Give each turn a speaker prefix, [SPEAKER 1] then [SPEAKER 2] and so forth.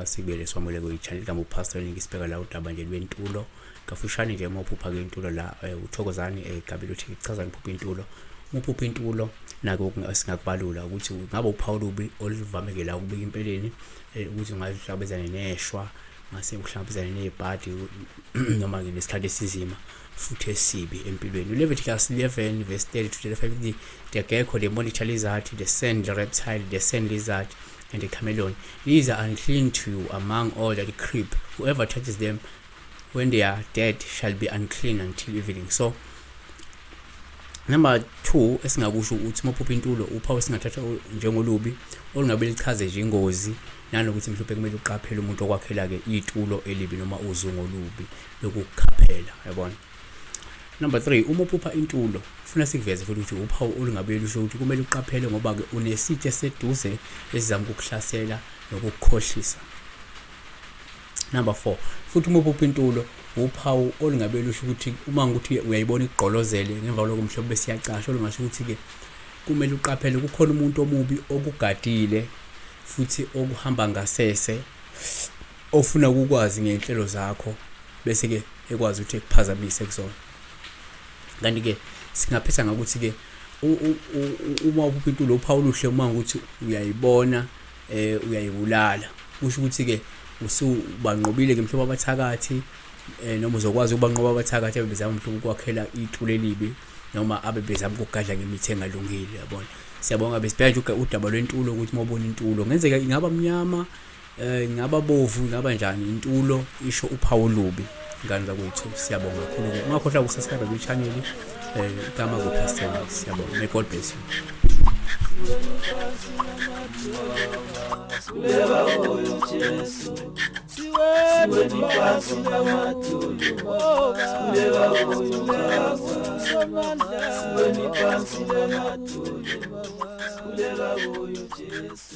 [SPEAKER 1] Sibele somule kwi channel ka Pastor Niki sibheka la udaba nje lwentulo kafushane nje uma uphupha ke intulo la eh, uthokozani eh, gabile uthi kuchazani phupha intulo uma uphupha intulo nako singakubalula ukuthi ngabe uphawula ubi olivameke la ukubika impeleni eh, ukuthi ungahlabezana neshwa ngase uhlabezana nezipati noma ke nesikhathi esizima futhi esibi empilweni uleviticus 11 verse 30 to 35 ukuthi the gecko the monitor lizard the sand reptile the sand lizard and the chameleon These are unclean to you among all that creep. Whoever touches them when they are dead shall be unclean until evening. So number 2 esingakusho ukuthi mophupha intulo uphawu esingathatha njengolubi olungabe lichaze nje ingozi nanokuthi mhlawumbe kumele uqaphele umuntu okwakhela ke itulo elibi noma uzungu olubi lokukhaphela yabona Number 3 uma uphupha intulo funa sikuveze futhi ukuthi uphawu olungabe lusho ukuthi kumele uqaphele ngoba ke unesitshe seduze esizama ukukuhlasela nokukukhohlisa. Number 4 futhi uma uphupha intulo uphawu olungabe lusho ukuthi uma ukuthi uyayibona igqolozele ngemva lokho mhlobo bese iyacasha olungasho ukuthi ke kumele uqaphele kukhona umuntu omubi okugadile futhi okuhamba ngasese ofuna ukukwazi ngey'nhlelo zakho bese-ke ekwazi ukuthi ekuphazamise kuzona kanti-ke singaphetha ngakuthi-ke uma ubupha intulo uphawu oluhle uma ukuthi uyayibona um uyayibulala kusho ukuthi-ke usubanqobile-ke mhlawumbe abathakathi um noma uzokwazi ukubanqoba abathakathi abe bezama mhlawumbe ukwakhela itulo elibi noma abe bezama ukugadla ngemithi engalungile yabona siyabonga besibheke nje udaba lwentulo ukuthi uma ubona intulo ngenzeka ingaba mnyama Eh ingaba bovu ingaba njani intulo isho uphawu olubi ngane zakwethu siyabonga kakhulu ke ungakhohlwa ukusubscribe kwi channel eh igama ku Pastor siyabonga may God bless you Kuleba
[SPEAKER 2] oyo Jesu Siwe mikasi na matulu Kuleba oyo Baba Siwe mikasi na matulu Kuleba oyo Jesu